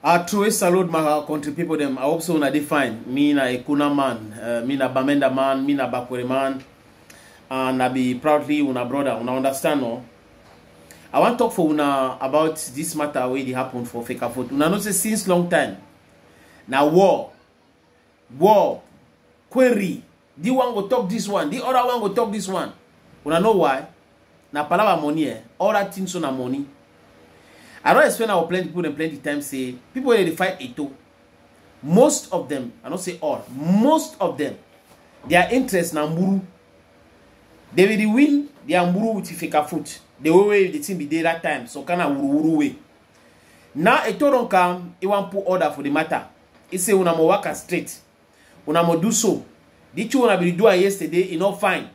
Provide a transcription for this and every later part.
I truly salute my country people them. I hope so na dey fine. Me na a Kuna man, uh, me na Bamenda man, me na Bakwere man, and I be proudly una brother. Una understand no? I wan talk for una about this matter wey dey happen for Fekafot. Una know say since long time na war, war, query di one go talk dis one di other one go talk dis one una know why na palava money eh all that thing so na money i don explain our plenty people dem plenty time say people wey dey fight eto most of them i no say all most of them their interest na mburu they will win their mburu with fika foot the way wey the thing be dey that time so kind of wuruwuru way now eto don come he wan put order for the matter he say una mo waka straight una mo do so the thing una bin do am yesterday e no fine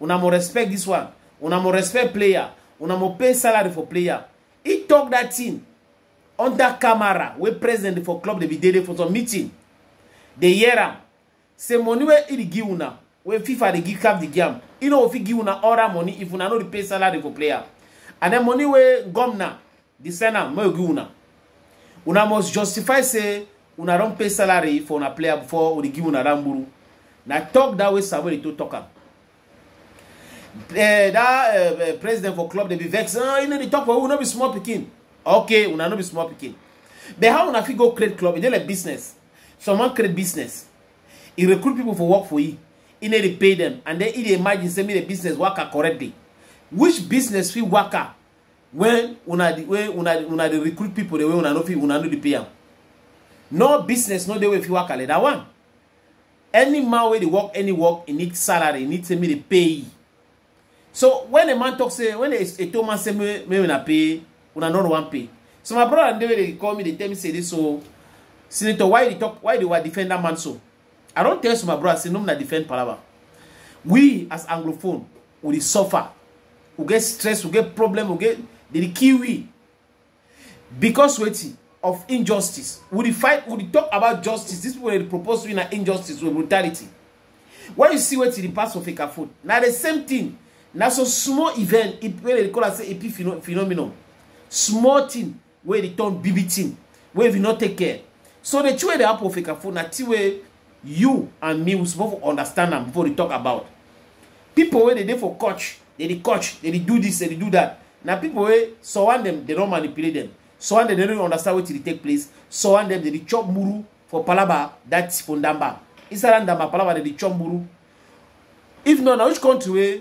una mo respect this one una mo respect player una mo pay salary for player he talk that thing under camera wey president for club dey be dey dey for some meeting dey hear am say money wey he dey give una wey fifa dey give cap dey give am he no go fit give una all that money if una no dey pay salary for player and then money wey governor Di send am make we give una. Una must justify say una don pay salary for una player before we dey give una that mburu. Na talk that way Samuel Eto'o talk am. Uh, that uh, uh, president for club dey be vex. Uh, you know dey talk for who no be small pikin. Okay, una no be small pikin. But how una fit go create club? E dey like business. Someone create business. He recruit people for work for you. He need to pay them. And then he dey imagine say me the business worker correctly. Which business fit worker when una dey wey una dey una dey recruit people dey wey una no fit una no dey pay am no business no dey wey fit work like that one any man wey dey work any work e need salary e need say make dey pay e so when a man talk say when a a tall man say make make una pay una no wan pay so my brother and dey wey dey call me dey tell me say this so senator why you dey talk why you dey wa defend that man so i don tell you so my brother say no na defend palava we as anglophone we dey suffer we get stress we get problem we get dey dey kill we because wetin of injustice we dey fight we dey talk about justice these people dey propose we na injustice with brutality when you see wetin dey pass for fake phone na the same thing na so small event wey dey call am say epi phenomenon small thing wey dey turn big big thing wey if you no take care so the thing wey dey happen for Fekafo na thing wey you and me we suppose for understand am before we talk about people wey dey dey for coach dey dey coach dey dey do this dey dey do that na people wey surround them dey don manipulate them surround them dey no understand wetin dey take place surround them dey dey chop muru for palaba that for ndamba inside that ndamba palaba dey dey chop muru if not na which country wey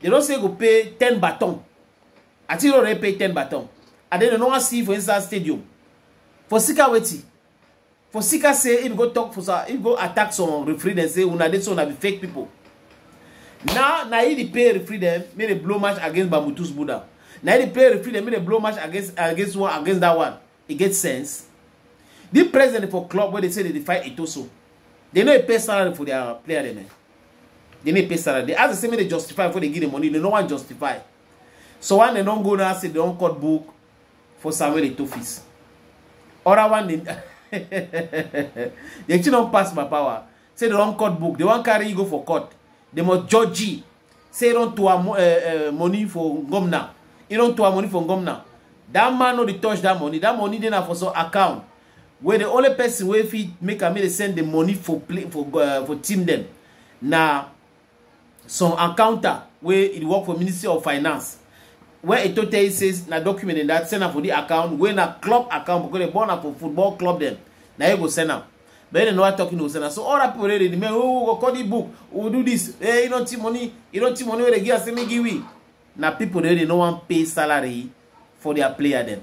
they don say go pay ten baton i think already pay ten baton and then they no wan see for inside stadium for sika wetin for sika say him go talk for sa him go attack some referee dem say una dey so una be fake people now na he dey pay referee dem make they blow match against bamutus buddha na he dey pay referee dem make they blow match against against one against that one e get sense the president for club wey dey say dey dey fight etoso dey no dey pay salary for their player dem eh dey no dey pay salary dey ask the same way dey justify before dey give the money dey no wan justify so one dey don go now say dey don cut book for samuel etofis other one dey the thing don pass my power say they don cut book they wan carry you go for court they must judge you say don to am uh, uh, money for ngomna e don to am money for ngomna that man no dey touch that money that money dey na for some account wey the only person wey fit make am make dey send the money for play for uh, for team dem na some accountant wey e work for ministry of finance wey eto tell you say na document in that send am for the account wey na club account because dem born am for football club dem na you go send am but dem never talk you no go send am so all that people wey dey remain oh we go call the book we go do this eh you don see money you don see money wey dey give am say make give we na people wey dey no wan pay salary for their player dem.